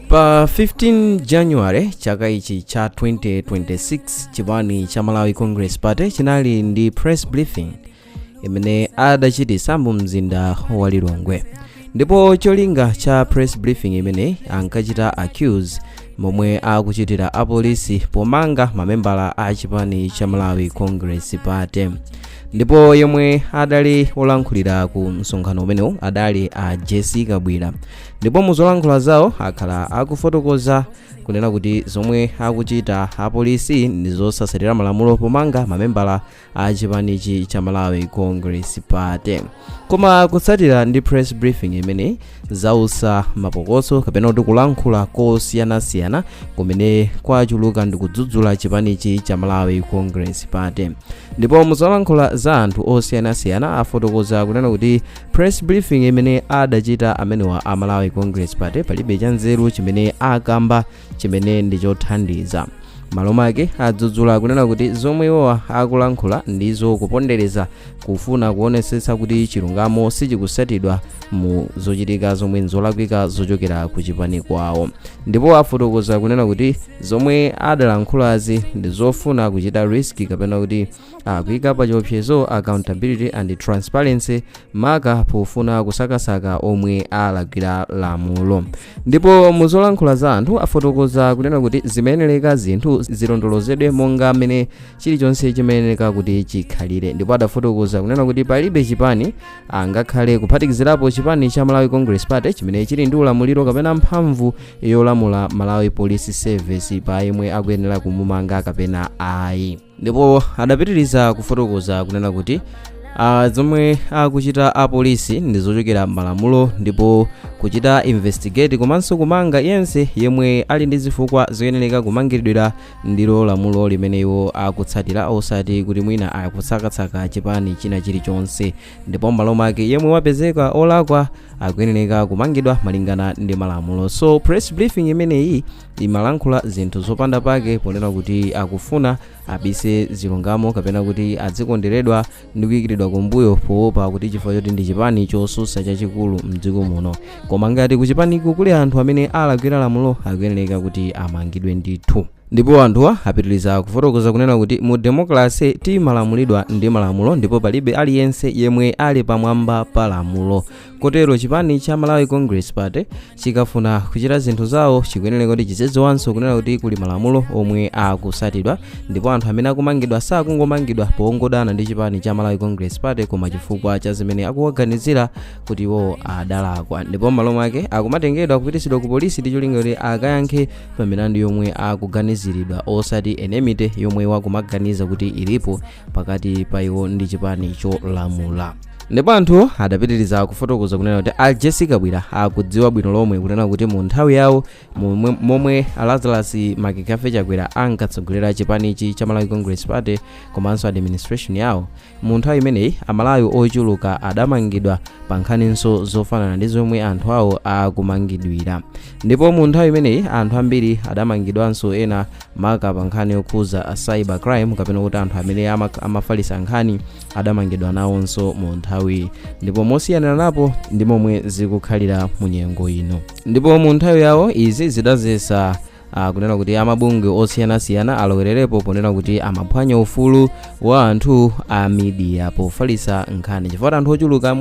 pa 15 january chaka ichi cha 2026 chipani cha malawi congress party chinali ndi press briefing imene adachitisa mu mzinda wa lilongwe ndipo cholinga cha press briefing imeneyi ankachita accuse momwe akuchitira apolisi pomanga mamembala a chipani cha malawi congress party ndipo yemwe adali olankhulira ku msonkhano umenewu adali a jessie kabwira ndipo mu zolankhula zawo akhala akufotokoza kunena kuti zomwe akuchita apolisi ndi zosatsatira malamulo pomanga mamembala a chipanichi cha malawi congress party koma kutsatira ndi press briefing imeneyi zautsa mapokoso kapena kuti kulankhula kosiyanasiyana kumene kwachuluka ndi kudzudzula chipanichi cha malawi congress party ndipo muzolankhula za anthu osiyanasiyana afotokoza kunena kuti press briefing imene adachita amenewa a malawi congress party palibe chanzeru chimene akamba chimene ndi chothandiza malo make adzudzula kunena kuti zomwe iwowa akulankhula ndi zokupondereza kufuna kuonetsetsa kuti chilungamo sichikutsatidwa mu zochitika zomwe nzolakwika zochokera ku chipani kwawo ndipo afotokoza kunena kuti zomwe adalankhulazi ndi zofuna kuchita risk kapena kuti akuika pa chiopsezo accountability and transparency maka pofuna kusakasaka omwe alakwira lamulo ndipo muzolankhula za anthu afotokoza kunena kuti zimayenereka zinthu zilondolozedwe monga mmene chilichonse chimayenereka kuti chikhalire ndipo adafotokoza kunena kuti palibe chipani angakhale kuphatikizirapo chipani cha malawi congress party chimene chili ndi ulamuliro kapena mphamvu yolamula malawi police service pa yemwe akuyenera kumumanga kapena ayi ndipo adapitiriza kufotokoza kunena kuti ah, zomwe akuchita apolisi ndi zochokera m'malamulo ndipo kuchita investigate komanso kumanga yense yemwe ali ndi zifukwa zoyenereka kumangidwira ndilo lamulo limene iwo akutsatira osati kuti mwina akusakasaka chipani china chilichonse ndipo m'malo make yemwe wapezeka olakwa akuyenereka kumangidwa malingana ndi malamulo so press briefing imeneyi imalankhula zinthu zopanda pake ponena kuti akufuna abise zilungamo kapena kuti adzikonderedwa ndi kuyikiridwa kumbuyo poopa kuti chifukwa choti ndi chipani chotsutsa chachikulu mdziko muno koma ngati kuchipaniko kuli anthu amene alakwira lamulo akuyenereka kuti amangidwe ndithu ndipo anthuwa apitiriza kufotokoza kunena kuti mu demokrasi timalamulidwa ndi malamulo ndipo palibe aliyense yemwe ali pamwamba pa lamulo kotero chipani cha malawi congress party chikafuna kuchita zinthu zawo chikuyenera kuti chizidziwanso kunena kuti kuli malamulo omwe akutsatidwa ndipo anthu amene akumangidwa sakungomangidwa pongodana ndi chipani cha malawi congress party koma chifukwa cha zimene akuwaganizira kuti iwo adalakwa ndipo m'malo mwake akumatengedwa kupititsidwa ku polisi ndi cholinga kuti akayankhe pa milandu yomwe akuganiziridwa osati enmity yomwe akumaganiza kuti ilipo pakati pa iwo ndi chipani cholamula ndipo anthuwo adapitiriza kufotokoza kunena kuti a jessie kabwila akudziwa bwino lomwe kunena kuti mu nthawi yawo momwe lazarus mccarthy chakwera ankatsogolera chipanichi cha malawi congress party komanso administration yawo mu nthawi imeneyi amalawi ochuluka adamangidwa pa nkhaninso zofanana ndi zomwe anthu awo akumangidwira ndipo mu nthawi imeneyi anthu ambiri adamangidwanso ena maka pa nkhani yokhudza a cyber crime kapena kuti anthu amene amafalitsa nkhani adamangidwa nawonso mu nthawi ndipo mosiyanaranapo ndi momwe zikukhalira mu nyengo ino ndipo mu nthawi yawo izi zidadzetsa kunena kuti amabungwe osiyanasiyana alowererepo ponena kuti amaphwanya ufulu wa anthu a midiya pofalitsa nkhani chifukwa anthu ochuluka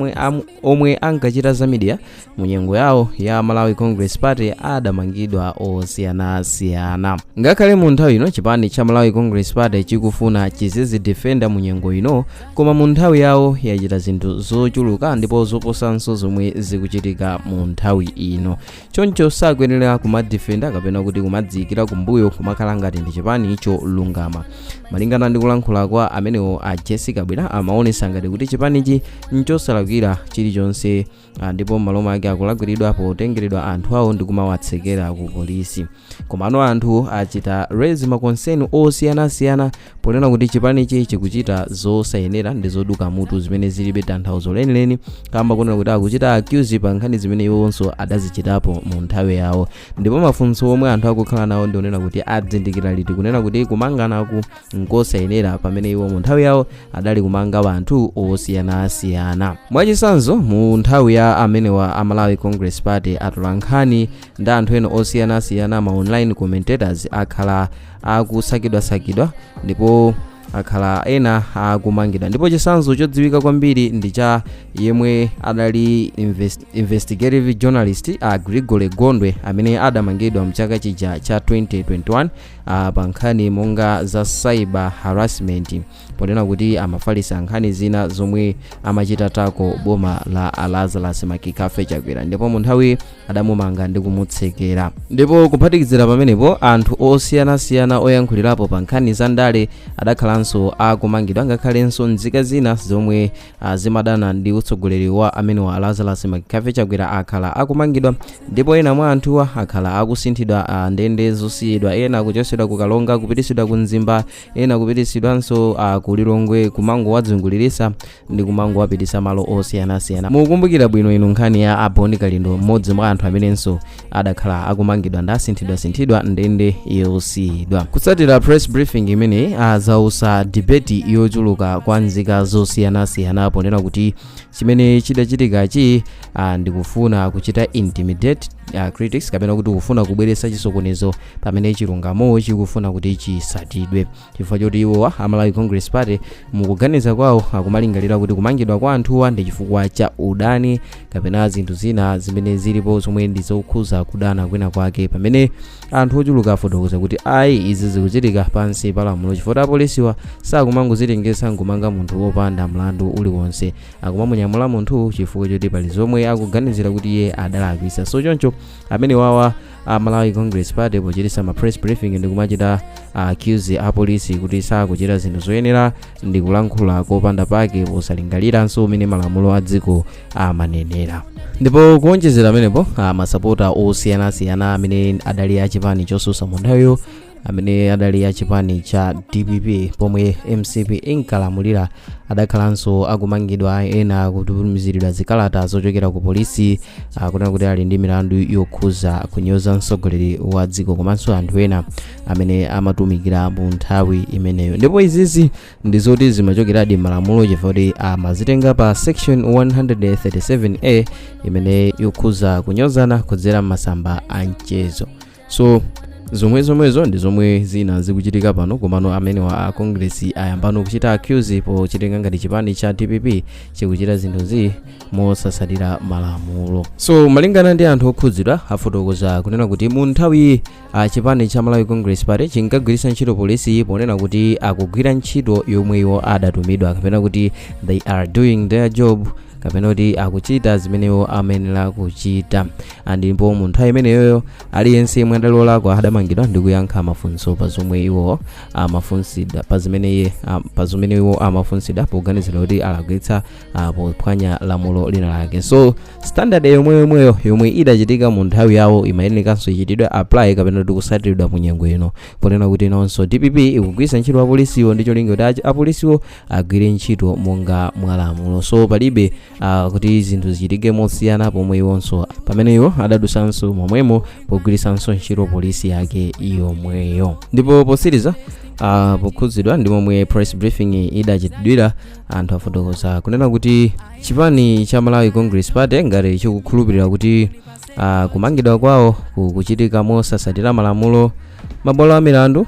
omwe ankachita za midiya mu nyengo yawo ya malawi congress party adamangidwa osiyanasiyana ngakhale mu nthawi ino chipani cha malawi congress party chikufuna chizizidefenda mu nyengo ino koma mu nthawi yawo yachita zinthu zochuluka ndipo zoposanso zomwe zikuchitika mu nthawi ino choncho sakuyenera kumadefenda kapena kuti kumadziyikira kumbuyo kumakhala ngati ndi chipani cholungama malingana ndi kulankhula kwa amenewo a jessie kabwila amaonetsa ngati kuti chipanichi nchosalakwira chilichonse ndipo m'malo mwake akulakwiridwa potengeredwa anthu awo ndi kumawatsekera ku polisi komano anthu achita raise makonseni osiyanasiyana ponena kuti chipanichi chikuchita zosayenera ndi zoduka mutu zimene zilibe tanthauzo lenileni kamba kunena kuti akuchita accuse pa nkhani zimene iwonso adazichitapo mu nthawi yawo ndipo mafunso omwe anthu akukhala nawo ndi onena kuti adzindikira liti kunena kuti kumanganaku nkosayenera pamene iwo mu nthawi yawo adali kumanga anthu osiyanasiyana mwachitsanzo mu nthawi ya amenewa a malawi congress party atolankhani ndi anthu ena osiyanasiyana ma online commentators akhala akusakidwasakidwa ndipo akhala ena akumangidwa ndipo chitsanzo chodziwika kwambiri ndi cha yemwe adali investigative journalist a gregory gondwe amene adamangidwa mchaka chija cha 2021 pa nkhani monga za cyber harassment ponena kuti amafalitsa nkhani zina zomwe amachita attack boma la a lazarus mccarthy chakwera ndipo mu nthawi adamumanga ndi kumutsekera ndipo kuphatikizira pamenepo anthu osiyanasiyana oyankhulirapo pa nkhani za ndale adakhalanso akumangidwa ngakhalenso nzika zina zomwe azimadana ndi utsogoleri wa amenewa Lazarus McCarthy Chakwera akhala akumangidwa ndipo ena mwa anthuwa akhala akusinthidwa a ndende zosiyidwa ena akuchotsedwa ku Karonga kupititsidwa ku Mzimba ena kupititsidwanso a ku Lilongwe kumangowadzunguliritsa ndi kumangowapititsa malo osiyanasiyana mukumbukira bwino inu nkhani ya a Bon Kalindo mmodzi mwa anthu amenenso adakhala akumangidwa ndi kusinthidwasinthidwa ndende yosiyidwa kutsatira press briefing imeneyi yadzutsa debate yochuluka kwa nzika zosiyanasiyana ponena kuti chimene chidachitikachi ah, ndikufuna kuchita intimidate uh, critics kapena kuti kufuna kubweretsa chisokonezo pamene chilungamo chikufuna kuti chisatidwe chifukwa choti iwowa a malawi congress party mukuganiza kwawo akumalingalira kuti kumangidwa kwa anthuwa ndi chifukwa cha udani kapena zinthu zina zimene zilipo zomwe ndi zokhuza kudana kwina kwake pamene anthu ochuluka afotokoza kuti ayi izi zikuchitika pansi pa lamulo chifukwa apolisiwa sakumangozitengetsa nkumanga munthu wopanda mlandu uliwonse akumamunyamula munthu chifukwa choti pali zomwe akuganizira kuti iye adalakwisa so choncho amene wawa a malawi congress party pochitisa ma press briefing ndi kumachita accuse apolisi kuti sakuchita zinthu zoyenera ndi kulankhula kopanda pake posalingaliranso umene malamulo a dziko amanenera ndipo kuonjezera pamenepo a masapota osiyanasiyana amene adali achipani chosusa munthawiyo amene adali a chipani cha dpp pomwe mcp inkalamulira adakhalanso akumangidwa ena kutumiziridwa zikalata zochokera ku polisi akunena kuti ali ndi milandu yokhuza kunyoza mtsogoleri wa dziko komanso anthu ena amene amatumikira mu nthawi imeneyo ndipo izizi ndi zoti zimachokeradi m'malamulo chifukwa kuti amazitenga pa section 137a imene yokhuza kunyozana kudzera m'masamba a mchezo so zomwezomwezo ndi zomwe zina zikuchitika pano komano amenewa a congress ayambano kuchita accuse pochitenga ngati chipani cha dpp chikuchita zinthuzi mosatsatira malamulo so malingana ndi anthu okhudzidwa afotokoza kunena kuti mu nthawi a chipani cha malawi congress party chinkagwiritsa ntchito polisi ponena kuti akugwira ntchito yomwe iwo adatumidwa kapena kuti they are doing their job kapena kuti akuchita zimene iwo amayenera kuchita Ah, ndipo mu nthawi imeneyoyo aliyense yemwe adali olakwa adamangidwa ndi kuyankha mafunso pa zomwe iwo amafunsidwa pa zimene iye ah, pa zimene iwo amafunsidwa poganizira kuti alakwitsa ah, pophwanya lamulo lina lake so standard yomweyoyomweyo yomwe idachitika mu nthawi yawo imayenekanso ichitidwe apply kapena kuti kusatiridwa mu nyengo ino ponena kuti inonso dpp ikugwiritsa ntchito apolisiwo ndi cholinga kuti achi- apolisiwo agwire ntchito monga mwa lamulo so palibe uh, kuti zinthu zichitike mosiyana pomwe iwonso pamene iwo adadusanso momwemo pogwiritsanso ntchito polisi yake yomweyo ndipo potsiriza uh, pokhudzidwa ndi momwe press briefing idachitidwira anthu afotokoza kunena kuti chipani cha malawi congress party ngati chikukhulupirira kuti uh, kumangidwa kwawo kukuchitika mosasatira malamulo mabwalo a milandu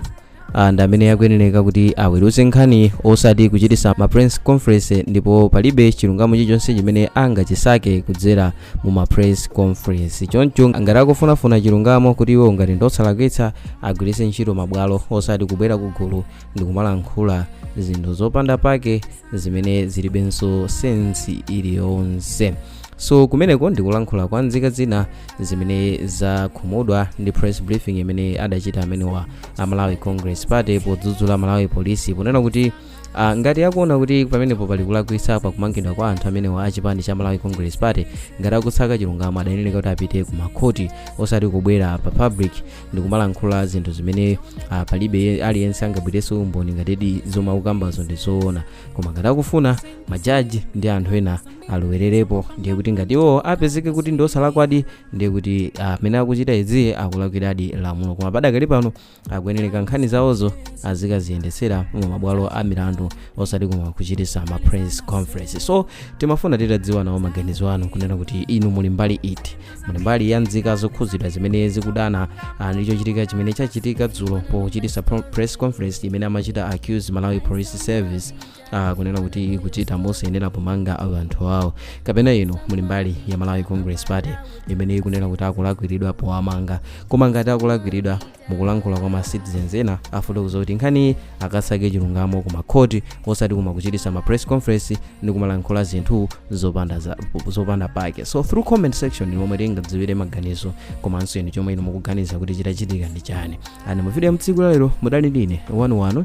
ah, ndi amene akuyenereka kuti aweruze nkhani osati kuchititsa ma press conference ndipo palibe chilungamo chilichonse chimene angachisake kudzera mu ma press conference choncho ngati akufunafuna chilungamo kuti iwo ngati ndosalakwitsa agwiritse ntchito mabwalo osati kubwera kugulu ndi kumalankhula zinthu zopanda pake zimene zilibenso sensi iliyonse so kumeneko ndikulankhula kwa nzika zina zimene zakhumudwa ndi press briefing imene adachita amenewa a malawi congress party podzudzula malawi polisi ponena kuti Uh, ngati akuona kuti pamenepo pali kulakwitsa pa kumangidwa kwa anthu amenewa a chipani cha malawi congress party ngati akutsaka chilungamo adayenera kuti apite ku makhoti osati kubwera pa public ndikumalankhula zinthu zimene uh, palibe aliyense angabweretse umboni ngatidi zomwe akukambazo ndi zoona koma ngati akufuna majaji ndi anthu ena alowererepo ndiye kuti ngati iwo apezeke kuti ndi osalakwadi ndiye kuti amene akuchita izi akulakwiradi lamulo koma padakali pano akuyenereka nkhani zawozo azikaziyendetsera mu mabwalo a milandu osati koma kuchititsa ma press conference so timafuna titadziwa nawo maganizo anu kunena kuti inu muli mbali iti muli mbali ya nzika zokhudzidwa zimene zikudana ah, ndi chochitika chimene chachitika dzulo pochititsa pro- press conference imene amachita accuse malawi police service ah, kunena kuti ikuchita mosayenera pomanga anthu awo kapena inu muli mbali ya malawi congress party imene ikunena kuti akulakwiridwa powamanga koma ngati akulakwiridwa mukulankhula kwa ma citizens ena afotokoza kuti nkhaniyi akasake chilungamo ku makhoti osati koma kuchititsa ma press conference ndi kumalankhula zinthu zopanda, za, zopanda pake so through comment section ndi momwe tingadziwire maganizo komanso inu chomwe inu mukuganiza kuti chitachitika ndi chani ani mu video ya tsiku lalero mudali ndine wanu wanu